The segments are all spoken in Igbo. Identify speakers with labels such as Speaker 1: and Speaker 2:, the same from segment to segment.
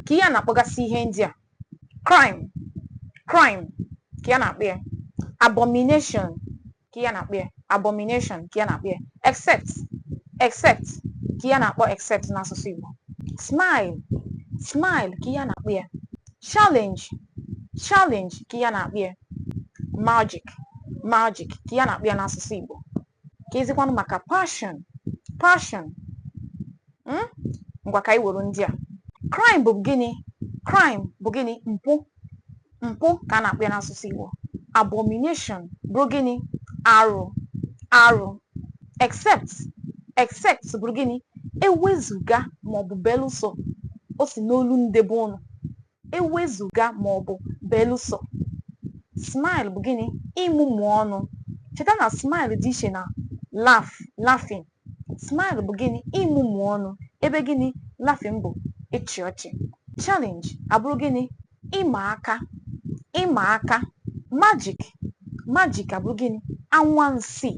Speaker 1: kee ihe a na-akpọgasị ihe ndị a crime crime kee ihe a na-akpọ ya abomination kee ihe a na-akpọ ya abomination kee ihe a na-akpọ ya except except kee ihe a na-akpọ except n'asụsụ Igbo smile smile kee ihe a na-akpọ ya challenge challenge kee ihe a na-akpọ ya magic magic kee ihe a na-akpọ ya n'asụsụ Igbo keezikwanụ maka passion passion hmm? ngwa ka anyị were ndị a crime bụ gịnị crime bụ gịnị mpụ mpụ ka a na-akpọ ya n'asụsụ Igbo abomination bụ gịnị arụ arụ except except bụrụ gịnị ewezuga maọbụ belụsọ o si n'olu ndị be ụnụ ewezuga ma ọ bụ belụsọ smile bụ gịnị ịmụmụ ọnụ cheta na smile dị iche na laugh laughing smile bụ gịnị ịmụmụ ọnụ ebe gịnị laughing bụ ịchị ọchị challenge abụrụ gịnị ịma aka ịma aka magic magic abụrụ gịnị anwansi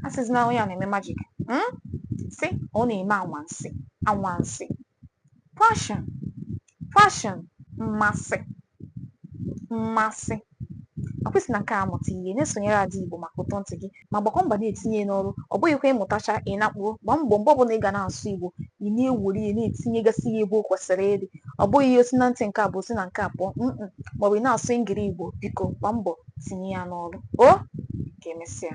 Speaker 1: asịzina onye a na-eme magic hmm? sị ọ na-eme anwansi anwansi Passion, passion, mmasị, mmasị. Ọ kwa i si na nke a mụta ihe na-esonyere Ada Igbo maka ụtọ ntị gị ma gbakwa mbọ na-etinye ya n'ọrụ ọ bụghịkwa ị mụtachaa ị nakpuo gbaa mbọ mgbe ọbụla ị ga na-asụ Igbo ị na-ewere ya na-etinyegasị ya ebe o kwesịrị ịdị ọ bụghị ihe o si na ntị nke a baa o si na nke a pụọ mm maọbụ ị na-asụ ngiri Igbo biko gbaa mbọ tinye ya n'ọrụ o ka emesịa